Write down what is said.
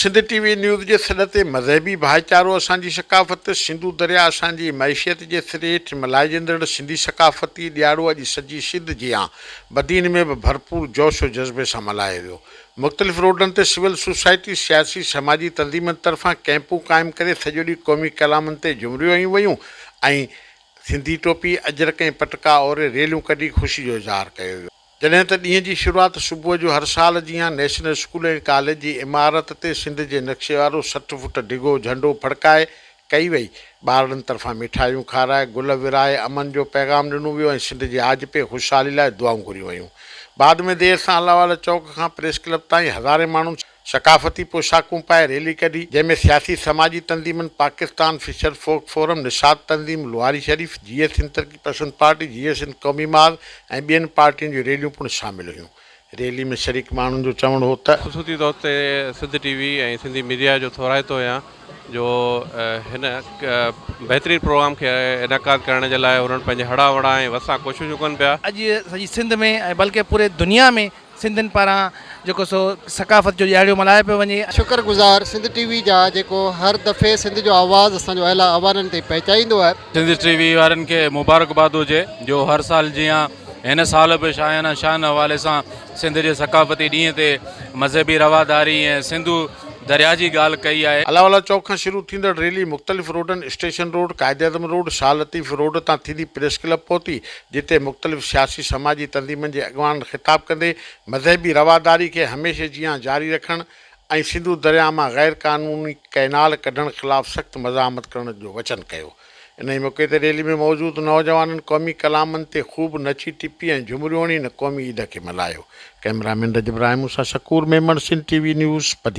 Sindh T V news جي سڏ تي مذهبي ڀائيچارو اسان جي ثقافت، سنڌو درياء اسان جي معيشيت جي سري هيٺ ملهائجندڙ سنڌي ثقافتي ڏياڙو اڄ سڄي سنڌ جيان بدين ۾ به ڀرپور جوش و جذبي سان ملهايو ويو. مختلف روڊن تي سول سوسائٽي، سياسي سماجي تنظيمن طرفان ڪئمپون قائم ڪري سڄو ڏينهن قومي ڪلامن تي جهمريون هنيون ويون ۽ سنڌي ٽوپي، اجرڪ ۽ پٽڪا اوري ريليون ڪڍي خوشي جو اظهار ڪيو ويو. جڏهن ته ڏينهن جي شروعات صبح جو هر سال جيان نيشنل اسڪول ۽ ڪاليج جي عمارت تي سنڌ جي نقشي وارو سٺ فوٽ ڊگهو جهنڊو ڦڙڪائي ڪئي وئي، ٻارڙن طرفان مٺايون کارائي، گل ورهائي امن جو پيغام ڏنو ويو ۽ سنڌ جي آجپي خوشحالي لاء دعائون گهريون ويون. بعد ۾ دير سان الله والا چوڪ کان پريس ڪلب تائين هزارين ماڻهن ثقافتي پوشاڪون پائي ريلي ڪڍي، جنهن ۾ سياسي سماجي تنظيمن Pakistan fisher folk forum, Nishat تنظيم، لواري شريف، جي ايس سنڌ ترقي پسند پارٽي، جي ايس سنڌ قومي ماڳ ۽ ٻين پارٽين جون ريليون پڻ شامل هيون. ريلي ۾ شريڪ ماڻهن جو چوڻ هو ته. خصوصي طور تي Sindh T V ۽ Sindhi media جو ٿورائتو هيان جو هن بهترين پروگرام کي انعقاد ڪرڻ جي لاء انهن پنهنجي هڙان وڙان ۽ وسان ڪوششون ڪن پيا. اڄ سڄي سنڌ ۾ ۽ بلڪه پوري دنيا ۾ سنڌين پاران جيڪو سو ثقافت جو ڏيهاڙيو ملهايو پيو وڃي. شڪر گذار سنڌ ٽي وي جا جيڪو هر دفعي سنڌ جو آواز اسان جو اعليٰ اوانن تائين پهچائيندو آهي. سنڌ ٽي وي وارن کي مبارڪباد هجي جو هر سال جيان هن سال به شاهيانه شان حوالي سان سنڌ جي ثقافتي ڏينهن تي مذهبي رواداري ۽ سنڌو درياء جي ڳالهه ڪئي آهي. الاولا چوڪ کان شروع ٿيندڙ ريلي مختلف روڊن station road, Quaid e Azam road, Shah Latif road تان ٿيندي پريس ڪلب پهتي، جتي مختلف سياسي سماجي تنظيمن جي اڳواڻن خطاب ڪندي مذهبي رواداري کي هميشه جيان جاري رکڻ ۽ سنڌو درياهه مان غير قانوني ڪئنال ڪڍڻ خلاف سخت مزاحمت ڪرڻ جو وچن ڪيو انهي موقعي تي ريلي ۾ موجود نوجوانن قومي ڪلامن تي خوب نچي ٽپي ۽ جهمريون هڻي ان قومي عيد کي ملهايو ڪئميرا مين رجب راهي مون سان Shakoor Memon Sindh T V news Badin.